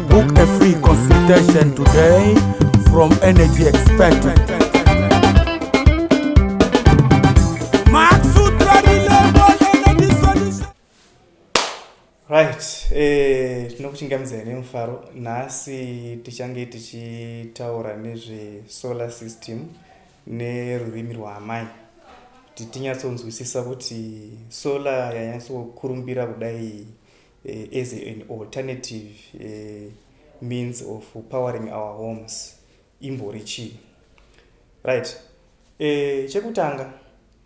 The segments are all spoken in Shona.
Book a free consultation today from energy expert. Right, eh, tinokuchingamidza here mufaro nhasi tichange tichitaura nezvesolar system nerurimi rwaamai kuti tinyatsonzwisisa kuti solar yanyatsokurumbira kudai uh, as an alternative uh, means of powering our homes imbori chii right uh, chekutanga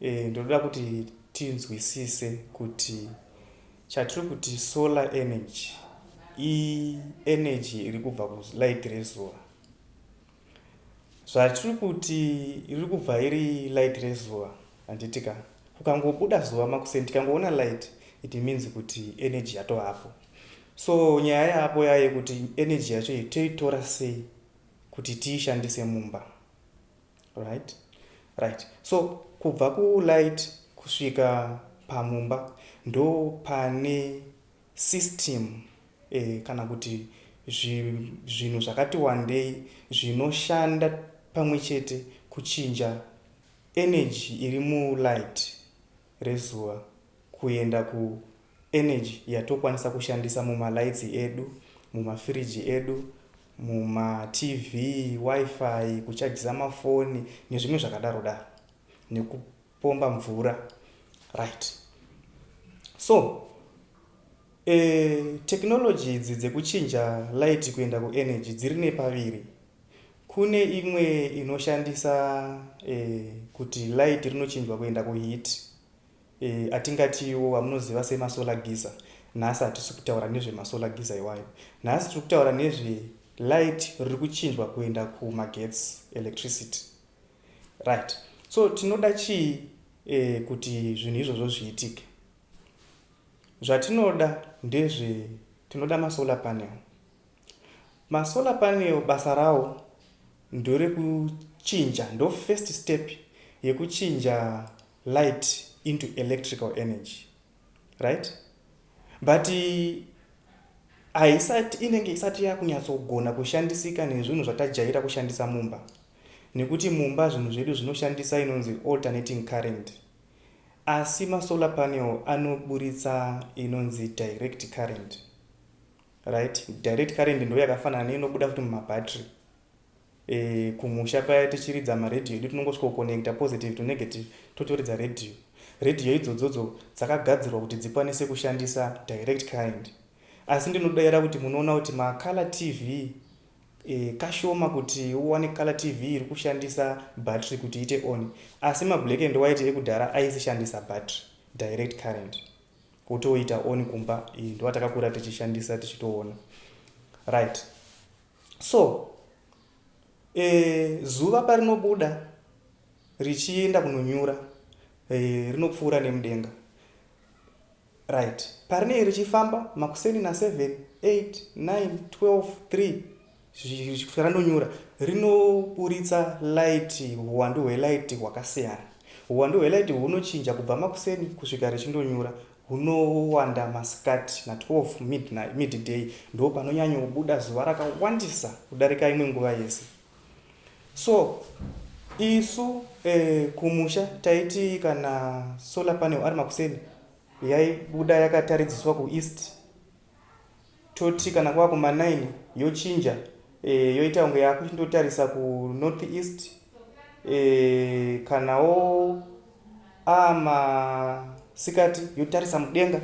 uh, ndoda kuti tinzwisise kuti chatiri kuti solar energy i energy iri kubva kulight rezuva Zvatiri kuti riri kubva iri light rezuva handiti ka? Kukangobuda zuva makuseni tikangoona light it means kuti energy yatovapo. So nyaya yaapo yaye kuti energy yacho iyi toitora sei kuti tiishandise mumba. Right? Right. So kubva kulight kusvika pamumba ndo pane System kana kuti zvinhu zvakati wandei zvinoshanda pamwe chete kuchinja energy iri mulight rezuva kuenda ku energy yatokwanisa kushandisa muma lights edu, muma fridge edu, muma TV, wifi, kuchajisa mafoni nezvimwe zvakadaro daro. pomba mvura right so e, technology idzi dzekuchinja light kuenda kuenergy dziri nepaviri kune imwe inoshandisa e, kuti light rinochinjwa kuenda kuheat e, atingatiwo amunoziva semasolar giza nhasi hatisi kutaura nezvemasolar giza iwayo nhasi tiri kutaura nezve light riri kuchinjwa kuenda kumagetsi electricity Right so tinoda chii eh, kuti zvinhu izvozvo zviitike zvatinoda ndezve tinoda masolar panel masolar panel basa rawo ndorekuchinja ndo first step yekuchinja light into electrical energy right but haisati inenge isati yakunyatsogona kushandisika nezvinhu zvatajaira kushandisa mumba nekuti mumba zvinhu zvedu zvinoshandisa inonzi alternating current asi masolar panel anoburitsa inonzi direct current right direct current ndo yakafanana neinobuda futi mumabattery e, eh, kumusha paya tichiridza maradio edu tinongosvika kuconnecta positive to negative totoridza radio radio idzodzodzo dzakagadzirwa kuti dzikwanise kushandisa direct current asi ndinodaira kuti munoona kuti macolor tv kashoma kuti uwane color TV iri kushandisa battery kuti iite on asi ma black and white ekudhara aisishandisa battery direct current wotoita on kumba iyi ndoatakakura tichishandisa tichitoona right so e, zuva parinobuda richienda kunonyura e, rinopfuura nemudenga Right. Parinenge richifamba makuseni na seven, eight, nine, twelve, three zvichikusvika randonyura rinoburitsa light huwandu hwelight hwakasiyana. Huwandu hwelight hunochinja kubva makuseni kusvika richindonyura hunowanda masikati na 12 midnight, midday ndopanonyanyobuda zuva rakawandisa kudarika imwe nguva yese. So isu eh, kumusha taiti kana solar panel ari makuseni yaibuda yakataridziswa kueast toti kana kwava kuma 9 yochinja eh, yoita kunge yakuchindotarisa kunorth east eh, kanawo amasikati yotarisa mudenga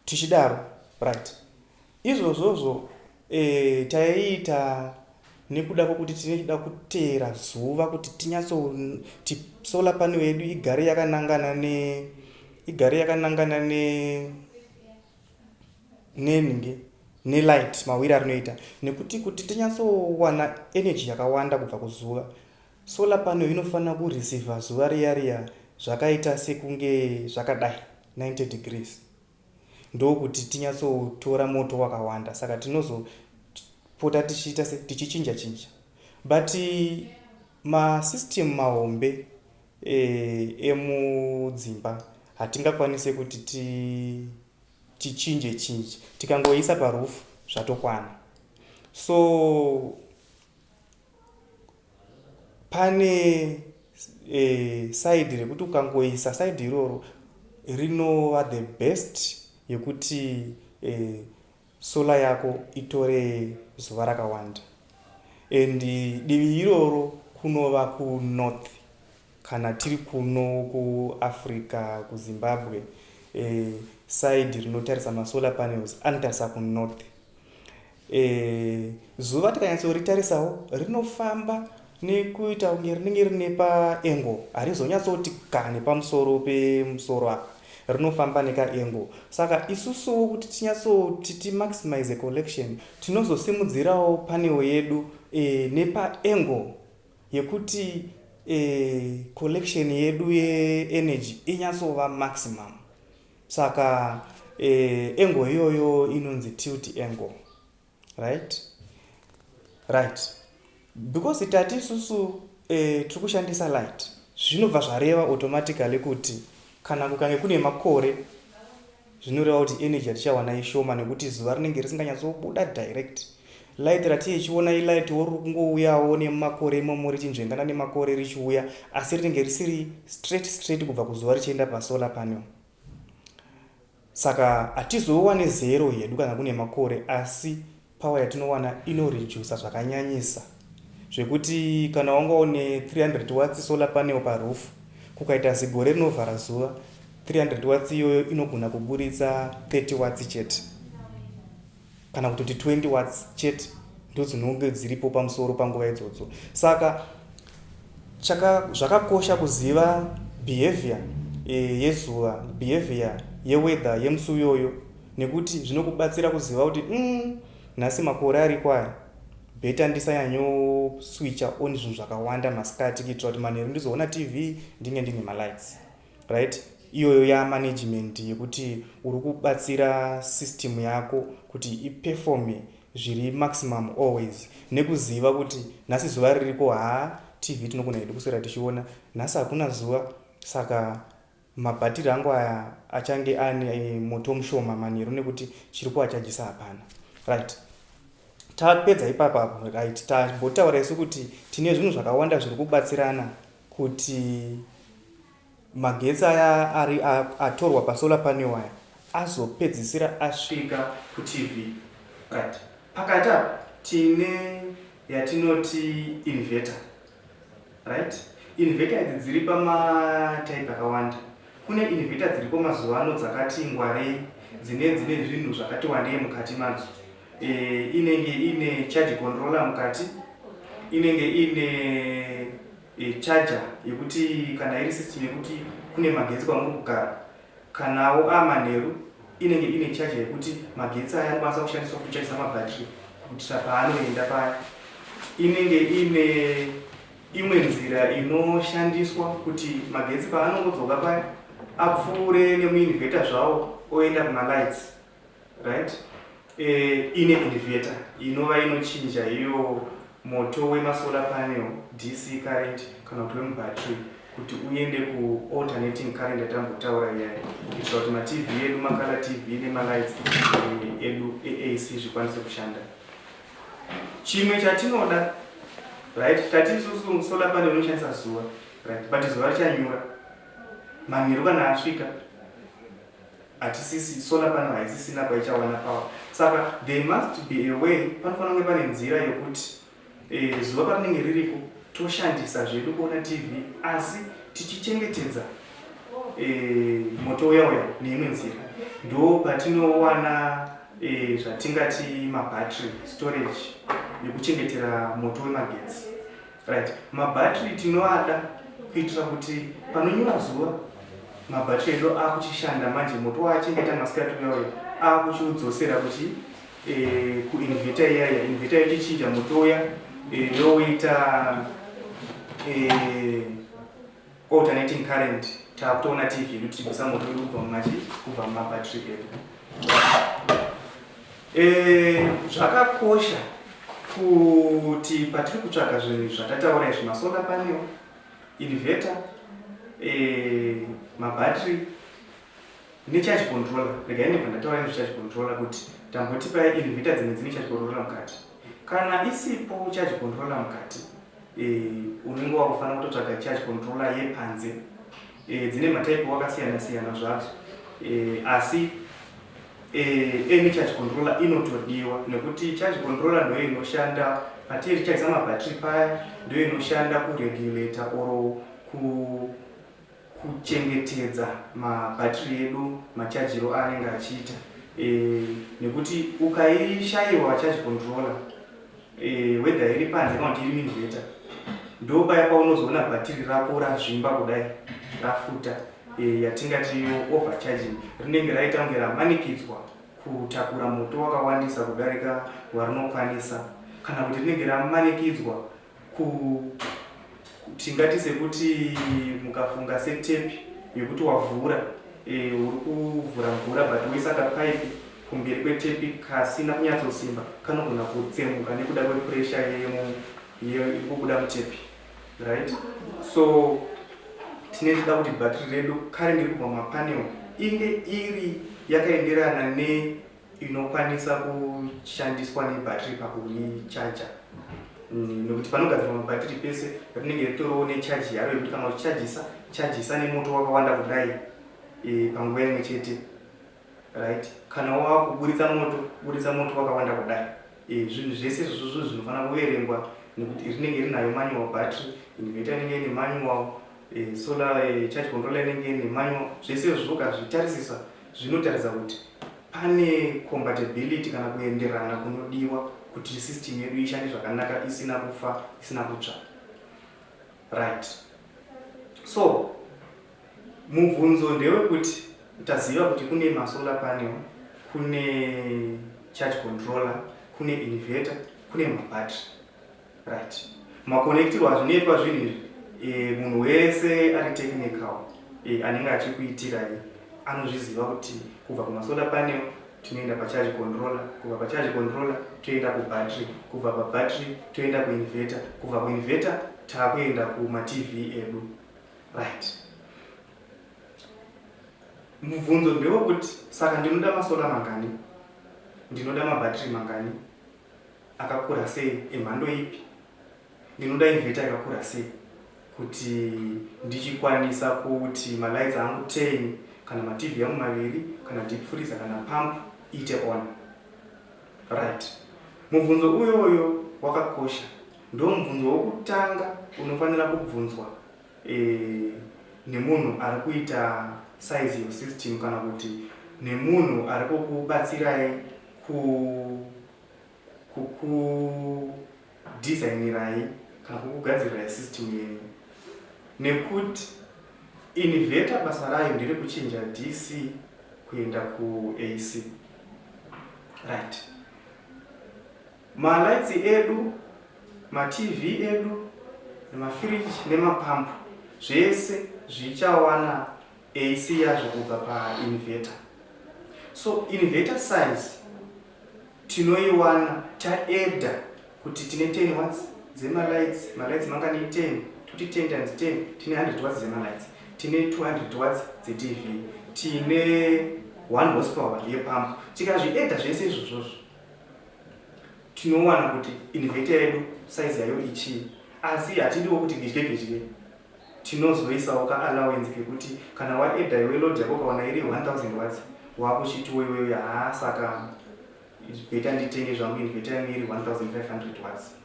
tichidaro right Izvozvozvo eh, taiita nekuda kwekuti tinoda kuteera zuva kuti tinyatsoti solar panel yedu igare yakanangana ne igare yakanangana ne nenhingi nelight mawiri arinoita nekuti kuti tinyatsowana energy yakawanda kubva kuzuva solar panel inofanira kureceiva zuva riya riya zvakaita sekunge zvakadai 90 degrees ndokuti tinyatsotora moto wakawanda saka tinozopota tichiita se tichichinja chinja but masystem mahombe e, emudzimba hatingakwanise kuti ti tichinje chinje tikangoisa parufu zvatokwana so pane e, eh, saidi rekuti ukangoisa saidi iroro rinova the best yekuti e, eh, sola yako itore zuva rakawanda and divi iroro kunova kunorth kana tiri kuno kuafrica kuzimbabwe e, eh, saidi rinotarisa masolar panels anotarisa kunorth Eeh zuva tikanyatsoritarisa rinofamba nekuita kunge rinenge rine pa angle harizonyatsoti ka nepamusoro pemusoro apa rinofamba neka angle saka isusuwo kuti tinyatsoti ti maximize collection tinozosimudzirawo panel yedu e, nepa angle yekuti e, collection yedu ye energy inyatsova maximum Saka eh, angle iyoyo inonzi tilt angle right right because tati isusu eh, tiri kushandisa light zvinobva zvareva automatically kuti kana kukange kune makore zvinoreva kuti energy yatichawana ishoma nekuti zuva rinenge risinganyatsobuda direct Light ratii chiona ilightwo riri kungouyawo nemumakore imomo richinzvengana nemakore richiuya asi rinenge risiri straight straight kubva kuzuva richienda pasolar panel saka hatizowane zero hedu kana kune makore asi power yatinowana inorejusa zvakanyanyisa zvekuti kana wanga une 300 watts solar panel paroof kukaita zigore rinovhara zuva 300 watts iyoyo inogona kuburitsa 30 watts chete kana kutoti 20 watts chete ndodzinonge dziripo pamusoro panguva idzodzo saka chaka zvakakosha kuziva behavior e, yezuva behavior yeweather yemusi uyoyo nekuti zvinokubatsira kuziva kuti mm, nhasi makore ari kwayo beta ndisanyanyoswicha on zvinhu zvakawanda masikati kuitira kuti manheru ndizoona tv ndinge ndine malights right iyoyo yamanagement yekuti uri kubatsira system yako kuti iperforme zviri maximum always nekuziva kuti nhasi zuva ririko haa tv tinogona hedu kuswera tichiona nhasi hakuna zuva saka mabhatiri angu aya achange ane eh, moto mushoma manheru nekuti chiri kuachajisa hapana right tapedza ipapapo right tambotaura isu kuti tine zvinhu zvakawanda zviri kubatsirana kuti magetsi aya ari atorwa pasolar panel aya azopedzisira asvika kuTV but pakati apa tine yatinoti inverter right inverter idzi dziri pamatype akawanda kune inverter dziripo mazuva ano dzakati ngwarei dzine dzine zvinhu zvakati wandei mukati madzo eh, inenge ine charge controller mukati inenge ine eh, charger yekuti kana iri system yekuti kune magetsi kwamuri kugara kanawo amanheru inenge ine charger yekuti magetsi aya anokwanisa kushandiswa kucharisa mabhatiri kuitira paanoenda paya inenge ine imwe nzira inoshandiswa kuti magetsi paanongodzoka paya apfuure nemuinvheta zvawo oenda kumalights right eh, ine inverter inova inochinja iyo moto wemasolar panel dc current kana kuti wemubattery kuti uende kualternating current yatambotaura iyayo kuitira kuti matv edu makala tv nemalights eh, edu eac zvikwanise kushanda chimwe chatinoda right tati isusu solar panel inoshandisa zuva right but zuva richanyura manheru kana asvika hatisisi solar panel haisisina kwaichawana power saka there must be a way panofanira kunge pane nzira yekuti eh, zuva parinenge ririko toshandisa zvedu kuona tv asi tichichengetedza eh, moto uya uya neimwe nzira ndo patinowana eh, zvatingati mabattery storage yekuchengetera moto wemagetsi Right. Mabattery tinoada kuitira kuti panonyura zuva mabattery edu akuchishanda manje moto waachengeta masikati uya uya akuchiudzosera kuchi eh, kuinvita iyaya invita yochichinja moto uya eh, yoita eh, alternating current takutoona tv yedu tichibvisa moto wedu kubva mumachi kubva mumabattery edu eh, zvakakosha kuti patiri kutsvaga zvinhu zvatataura izvi masolar panel inverter eh, mabattery necharge controller regai ndibva ndataura nezvecharge controller kuti tamboti paya inverter dzimwe dzine charge controller mukati kana isipo charge controller mukati unenge wakufanira kutotsvaga charge controller yepanze dzine matype wakasiyana siyana zvadzo asi any charge controller inotodiwa nekuti charge controller ndoyo inoshanda patiri chaisa mabattery paya ndoyo inoshanda kuregulator or ku kuchengetedza ma battery edu machajiro aanenge achiita nekuti ukaishaiwa charge controller whether iri panze kana kuti iri minveta ndopaya paunozoona battery rako razvimba kudai rafuta yatingati overcharging rinenge raita kunge ramanikidzwa kutakura moto wakawandisa kudarika warinokwanisa kana kuti rinenge ramanikidzwa Ku, ku, tingati sekuti mukafunga setepi yekuti wavhura e, uri kuvhura mvura but woisa kapaipi kumberi kwetepi kasina kunyatsosimba kanogona kutsemuka nekuda kwepuresha iri kubuda mutepi right so tine tida kuti bhatiri redu karinge kubva mapanel inge iri yakaenderana ne inokwanisa kushandiswa nebhatiri pakuichaja mm, nokuti panogadzirwa mabhatiri pese rinenge ritoriwo nechaji yaro yekuti kana uchichajisa chajisa nemoto wakawanda kudai e, panguva imwe chete right kana wava kuburitsa moto buritsa moto wakawanda kudai e, zvinhu zvese izvozvo zvinhu zvinofanira kuverengwa nekuti rinenge rinayo manual battery inverter inenge ine manual e, solar e, charge controller inenge ine manual zvese izvozvo ukazvitarisisa zvinotaridza kuti pane compatibility kana kuenderana kunodiwa kuti system yedu ishande zvakanaka isina kufa isina kutsva right so mubvunzo ndewekuti taziva kuti kune masolar panel kune charge controller kune inverter kune mabattery Right. Makonektirwa azvinoitwa zvinhu izvi e, munhu wese ari technical e, anenge achikuitirai anozviziva kuti kubva kumasoda panel tinoenda pacharge controller kubva pacharge controller toenda kubattery kubva pabattery toenda kuinverter kubva kuinverter taakuenda kumatv edu right mubvunzo ndewekuti saka ndinoda masoda mangani ndinoda mabattery mangani akakura sei emhando ipi ndinoda inveta yakakura sei kuti ndichikwanisa kuti malights angu 10 kana matv yangu maviri kana deep freezer kana pump iite on right mubvunzo uyoyo wakakosha ndo mubvunzo wokutanga unofanira kubvunzwa e, nemunhu ari kuita size yosystem kana kuti nemunhu ari kukubatsirai ku kukudesignirai kana kukugadzirirai system yenyu nekuti inverter basa rayo nderekuchinja DC kuenda kuAC right malights edu matv edu nemafridge nemapump zvese zvichawana AC yazvo kubva painverter so inverter size tinoiwana ta adder kuti tine 10 watts dzema lights ma lights mangani 10 toti 10 times 10 tine 100 watts dzema lights tine 200 watts dze TV tine 1 horsepower ye pump tikazvi adder zvese izvozvozvo tinowana kuti inverter yedu size yayo ichii asi hatidiwo kuti gedye gedye Tinozoisawo ka allowance kekuti kana waedha iwe load yako ukawana iri 1000 watts wakuchitiwo iwewe haa saka it's better nditenge zvangu inverter yangu iri 1500 watts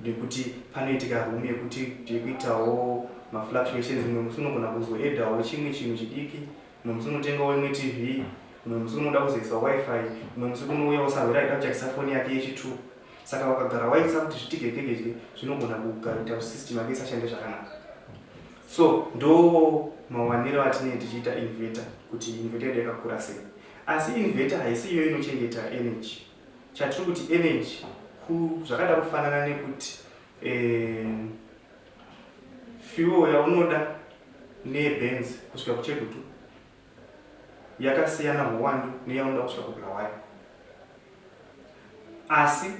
nekuti panoitika room yekuti tiri kuitawo mafluctuations mumwe musi unogona kuzoedhawo chimwe chinhu chidiki mumwe musi unotengawo imwe tv mumwe musi unoda kuzoisa wifi mumwe musi kunouya usahwira aida kuchakisa foni yake yechitwo saka wakagara waitsa kuti zvitigegegege zvinogona kugaita kuti system yake isashande zvakanaka so ndo mawaniro atinee tichiita inverter kuti inverter yedu yakakura sei asi inverter haisi iyo inochengeta energy chatiri kuti energy zvakada kufanana nekuti eh, fuel yaunoda nebenzi kusvika kuchegutu yakasiyana huwandu neyaunoda kusvika kuBulawayo asi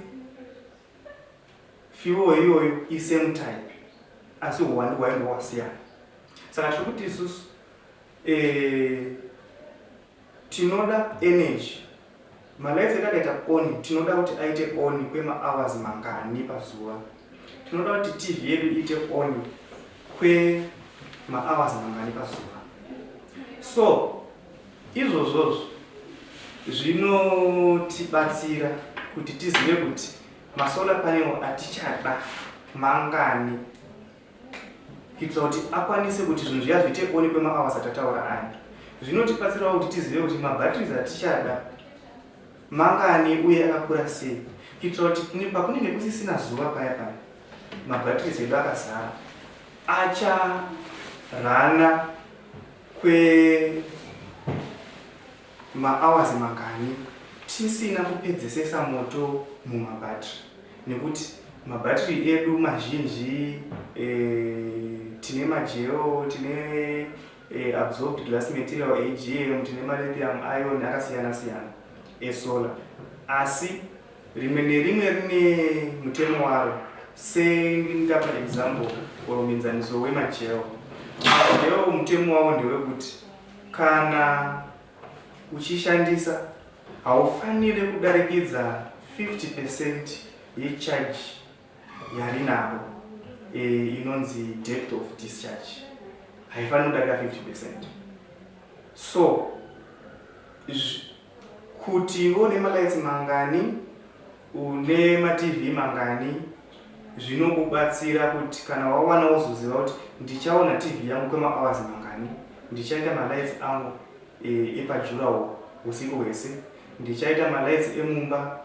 fuel iyoyo isame type asi huwandu hwayo ndohwasiyana saka tiri kuti isusu eh, tinoda energy Malights etakaita on tinoda kuti aite on kwema hours mangani pazuva? Tinoda kuti TV yedu iite on kwe ma hours mangani pazuva? So izvozvozvo zvinotibatsira kuti tizive kuti ma solar panel atichada mangani kuitira kuti akwanise kuti zvinhu zviya zviite one kwemaawas atataura aya zvinotibatsirawo kuti tizive kuti mabatteries atichada mangani uye akakura sei kuitira kuti pakunenge kusisina zuva paya paya mabatteries edu akazara acharana kwe Ma hours mangani tisina kupedzesesa moto muma battery nekuti ma battery edu mazhinji eeh tine ma geo tine eeh absorbed glass material AGM tine ma lithium ion akasiyana siyana e solar asi rimwe nerimwe rine mutemo waro sendingapa example or muenzaniso wema geo ma geo mutemo wawo ndewekuti Kana uchishandisa, haufanire kudarikidza 50 percent yecharge yarinaro e, inonzi depth of discharge. Haifanire kudarika 50 percent. So, izvi Kuti une malights mangani, une matv mangani zvinokubatsira kuti kana wawana wozoziva kuti ndichaona tv yangu kwemahours mangani, ndichaita malights angu epajurawo husiku hwese, ndichaita malights emumba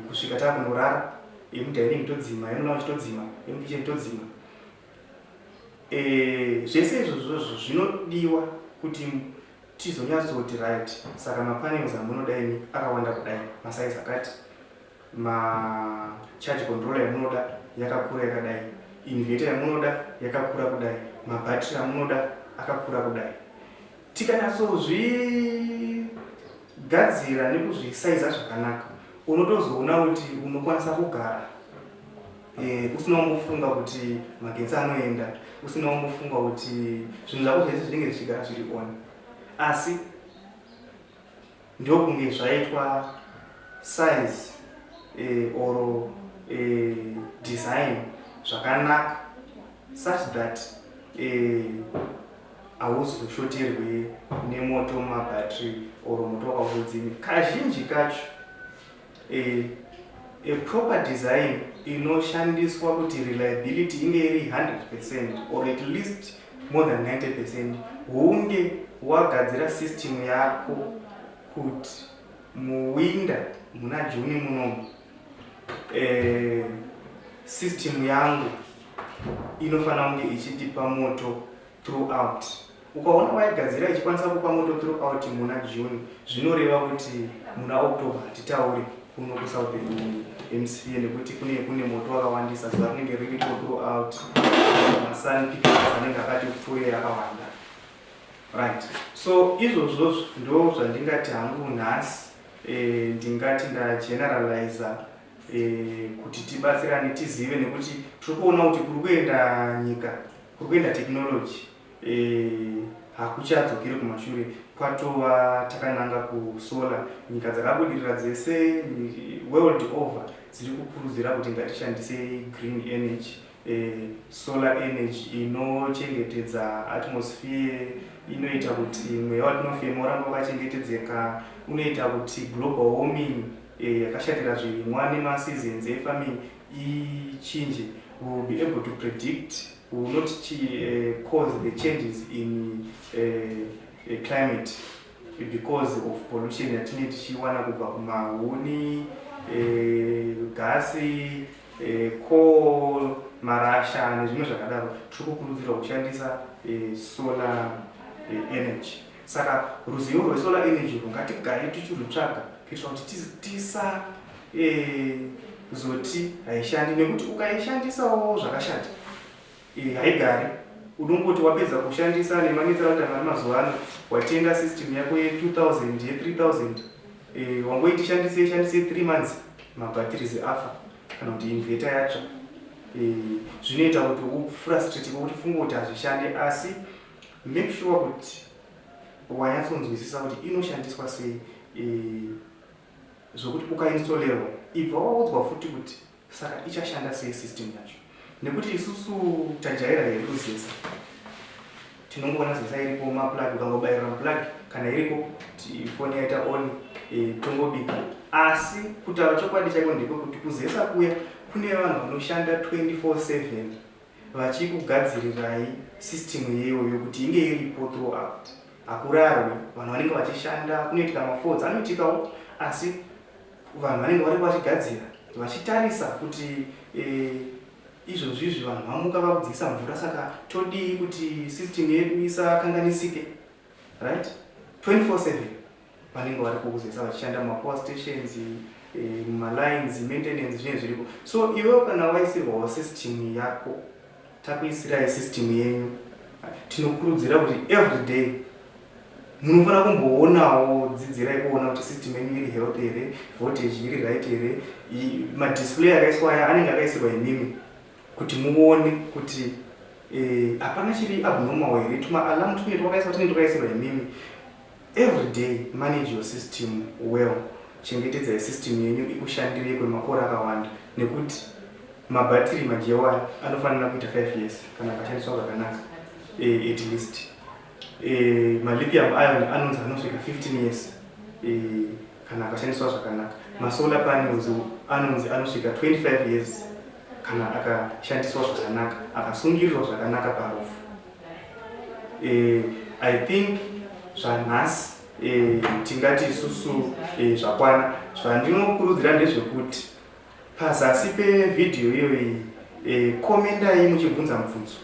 kusvika takunorara, emudining todzima, emulounge todzima, emukitchen todzima. Eh, zvese izvozvozvo zvinodiwa kuti tizonyatsoti right saka mapanels amunoda ini akawanda kudai masaizi akati macharge controller yamunoda yakakura yakadai inverter yamunoda yakakura kudai mabattery amunoda akakura kudai Tikanatsozvigadzira nekuzvisaiza zvakanaka unotozoona kuti unokwanisa kugara eh, usina kumbofunga kuti magetsi anoenda, usina kumbofunga kuti zvinhu zvako zvese zvinenge zvichigara zviri on asi Ndokunge zvaitwa size eh, or eh, design zvakanaka such that eh, hauzoshoterwe eh, nemoto mumabattery or moto wakakudzimi kazhinji kacho A, a proper design inoshandiswa kuti reliability inge iri 100% or at least more than 90% hunge wagadzira system yako kuti muwinda muna juni munomu eh, system yangu inofanira kunge ichitipa moto throughout Ukaona waigadzira ichikwanisa kupa moto throughout muna June zvinoreva kuti muna October hatitaure kuno kuSouthern hemsphere nekuti kune kune moto wakawandisa zuva rinenge ririko throughout masun pictures anenge akati pfuure yakawanda right so izvozvo ndo zvandingati hangu nhasi eh, ndingati ndageneralizer eh, kuti tibatsirane tizive nekuti tiri kuona kuti kuri kuenda nyika kuri kuenda technology Eh, hakuchadzokeri kumashure kwatova takananga kusolar. Nyika dzakabudirira dzese world over dziri kukurudzira kuti ngatishandisei green energy. Eh, solar energy inochengetedza atmosphere, inoita kuti mweya watinofema uramba wakachengetedzeka, unoita kuti global warming eh, yakashatira zvirimwa nemaseasons efarming ichinje. We will be able to predict We will not uh, cause the changes in uh, uh, climate because of pollution yatinenge tichiwana kubva kumahuni eh, gasi eh, coal marasha nezvimwe zvakadaro tiri kukurudzirwa kushandisa eh, solar energy saka ruzivo rwesolar energy rwungatigare tichirutsvaga kuitira kuti tisa Eh, kuzoti haishandi nekuti ukaishandisawo zvakashata eh, haigari unongoti wapedza kushandisa nemanetsera kuti amari mazuva ano watenga system yako ye2000 ye3000 eh, wangoiti ishandise ishandise 3 months mabatteries afa kana kuti inveta yatsva eh, zvinoita kuti ufrustrate kuti funga kuti hazvishande asi make sure kuti wanyatsonzwisisa kuti inoshandiswa sei eh, Zvekuti ukainstolerwa ibva waudzwa futi kuti saka ichashanda sei system yacho nekuti isusu tajaira hedu zesa tinongoona zesa iripo maplug ukangobairira maplug kana iriko foni yaita on e, tongobika asi kutaura chokwadi chaiko ndekwe kuti kuzesa kuya kune vanhu vanoshanda 24/7 vachikugadzirirai system iyoyo kuti inge iripo throughout hakurarwi vanhu vanenge vachishanda kunoitika mafrauds anoitikawo asi vanhu vanenge varipo vachigadzira vachitarisa kuti eh, izvozvizvi vanhu vamuka vakudzikisa mvura saka todii kuti system yedu isakanganisike right 24/7 vanenge vari kukuzesa vachishanda mumapower stations eh, mumalines maintenance zvinenge zviriko so iwewo kana waisirwawo system yako takuisirai system yenyu tinokurudzira kuti every day munofanira kumboonawo dzidzirai kuona kuti system yenyu iri health here voltage iri right here madisplay akaiswa aya anenge akaisirwa imimi kuti muone kuti eh, hapana chiri abnormal here tuma alarm tunenge twakaiswa tunenge twakaisirwa imimi Everyday manage your system well chengetedzai system yenyu ikushandirei kwemakore akawanda nekuti mabhatiri majewo aya anofanira kuita 5 years kana akashandiswa zvakanaka eh, at least eh, malipium iron anonzi anosvika 15 years eh, kana akashandiswa zvakanaka masolar panels anonzi anosvika 25 years kana akashandiswa zvakanaka akasungirirwa zvakanaka parufu Eh, I think zvanhasi eh, tingati isusu eh, zvakwana zvandinokurudzira ndezvekuti pazasi pevhidhiyo iyoyi eh, komendai muchibvunza mubvunzo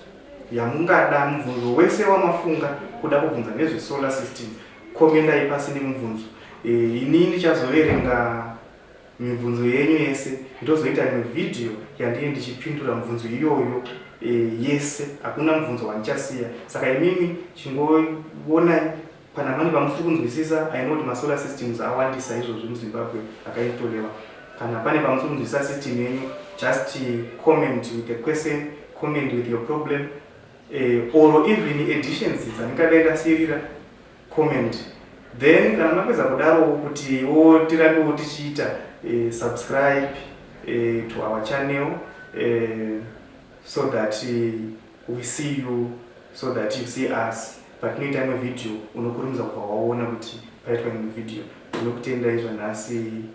yamungada mubvunzo wese wamafunga kuda kubvunza nezvesolar system komendai pasi nemubvunzo eh, ini ndichazoverenga mibvunzo yenyu yese ndozoita imwe vhidhiyo yandiri ndichipindura mibvunzo iyoyo e, yese hakuna mubvunzo wandichasiya saka imimi chingoonai kana mane vamusiri kunzwisisa i know kuti masolar systems awandisa izvozvi muzimbabwe akaitolewa kana pane vamusiri kunzwisisa system yenyu just comment with a question comment with your problem e, or even editions dzandingadai ndasirira comment then kana mapedza kudarowo kuti wo tirambewo tichiita eh, subscribe eh, to our channel eh, so that eh, we see you so that you see us patinoita imwe video unokurumidza kubva waona kuti paitwa imwe video ndinokutendai zvanhasi